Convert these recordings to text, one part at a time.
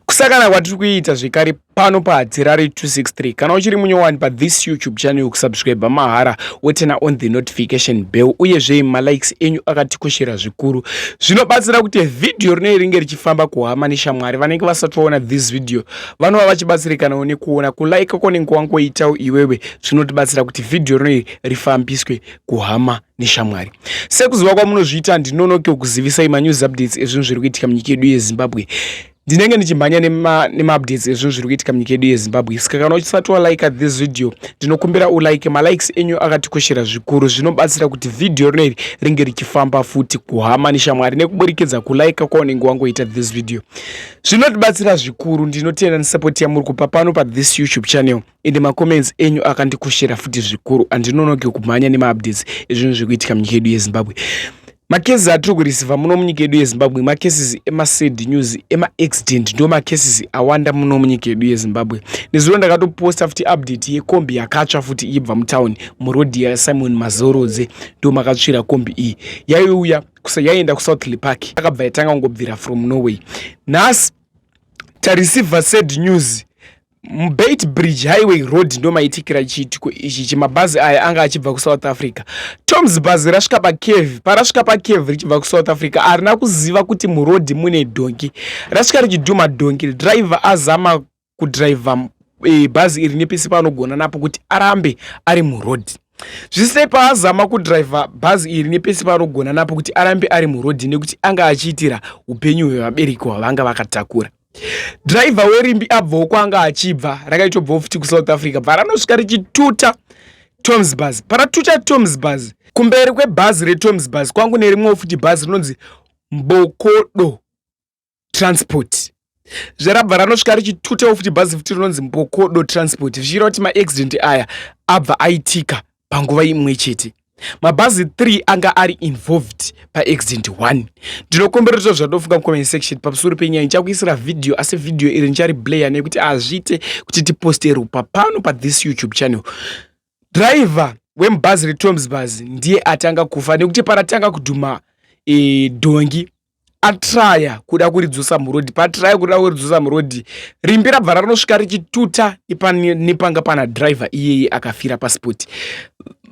kusakana kwatiri kuita zvekare pano pahadzirari 263 kana uchiri munyowani pathis youtube channel yokusubscribe mahara wotena on the notification bell uyezve malikes enyu akatikoshera zvikuru zvinobatsira kuti vhidhiyo rinei ringe richifamba kuhama neshamwari vanenge vasati vaona this video vanova vachibatsirikanawo nekuona kulaika konenge wangoitawo iwewe zvinotibatsira kuti vhidhiyo rinei rifambiswe kuhama neshamwari sekuziva kwamunozviita ndinonoke kuzivisai manews updates ezvinhu zviri kuitika munyika yedu yezimbabwe ndinenge ndichimhanya nemaupdates nema ezvinhu zviri kuitika munyika yedu yezimbabwe saka kana uchisati walike this video ndinokumbira ulike malikes enyu akatikoshera zvikuru zvinobatsira kuti vhidhiyo rino iri ringe richifamba futi kuhama neshamwari nekuburikidza kulike kwaunenge wangoita this video zvinotibatsira zvikuru ndinotenda nesapoti yamuri kupa pano pathis youtube channel ende macomments enyu akandikushira futi zvikuru andinonoke kumhanya nemaupdates ezvinhu zviri kuitika munyika yedu yezimbabwe macases atiri kurisivha muno munyika yedu yezimbabwe macases emasad news emaaccident ndo macases awanda muno munyika yedu yezimbabwe nezuro ndakatoposta futi update yekombi yakatsva futi iibva mutown murodhi yasimon mazorodze ndo makatsvira kombi iyi yaiuya yaienda kusouthly park akabva yatanga kungobvira from norway nhasi tarisivha sad news mubeit bridge highway road ndomaitikira chiitiko ichi chemabhazi aya anga achibva kusouth africa toms bhazi rasvika pacave parasvika pacave richibva kusouth africa arina kuziva kuti murodhi mune dhongi rasvika richidhuma dhongi driver azama kudriver e, bhazi iri nepese paanogona napo kuti arambe ari murodhi zvisinei paazama kudriver bhazi iri nepese paanogona napo kuti arambe ari murodhi nekuti anga achiitira upenyu hwevabereki hwavanga vakatakura driver werimbi abvawo kwanga achibva rakaitobvawo futi kusouth africa bva ranosvika richituta toms bus paratuta toms bus kumberi kwebhazi retoms bus kwangu nerimwewo futi bhazi rinonzi mbokodo transport zvarabva ranosvika richitutawo futi bhazi futi rinonzi mbokodo transport zvichiira kuti maaccident aya abva aitika panguva imwe chete mabhazi 3 anga ari involved paaccident 1 ndinokumbira kuti zvadofunga mucomment section pamusoro penyaya ndichakuisira vhidhiyo asi vhidhiyo iri ndichari blayer nekuti hazviite kuti tiposte rupa pano pathis youtube channel driver wemubhazi retomsbus ndiye atanga kufa nekuti paratanga kudhuma e, dhongi atraya kuda kuridzosa murodhi paatraya kuda kuridzosa murodhi rimbi rabva ranosvika richituta nepanga pana driver iyeye akafira paspoti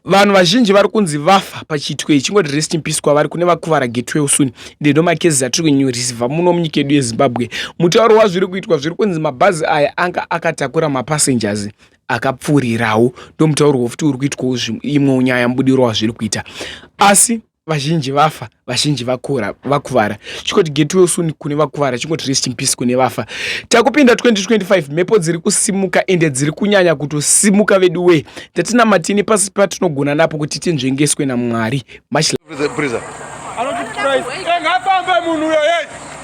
vanhu vazhinji vari kunzi vafa pachiitiko ichi chingoti rest in peace kwavari kune vakuvara getwell soon ndendo makezi atiri kunyorisiva muno munyika yedu yezimbabwe mutauro wazviri kuitwa zviri kunzi mabhazi aya anga akatakura mapassengers akapfuurirawo ndomutaurwa futi uri kuitwawo imwewo nyaya mubudiro wazviri kuita asi vazhinji vafa vazhinji vakura vakuvara chikoti get well soon kune vakuvara chingoti rest in peace kune vafa takupinda 2025 mhepo dziri kusimuka ende dziri kunyanya kutosimuka vedu wee tatina matini pasi patinogona napo kuti tinzvengeswe namwari mach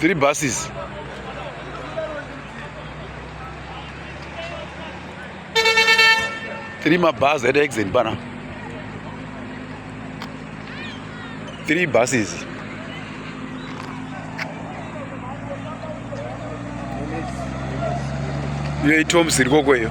three buses three mabhazi at exit bana three buses iyo itoms irikoko iyo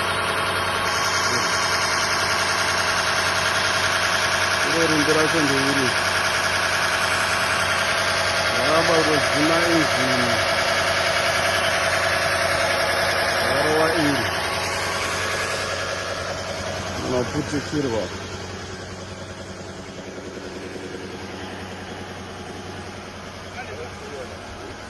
iro rumbi racho ndeiri raramba kutodzima injini rarowa iri unoputikirwa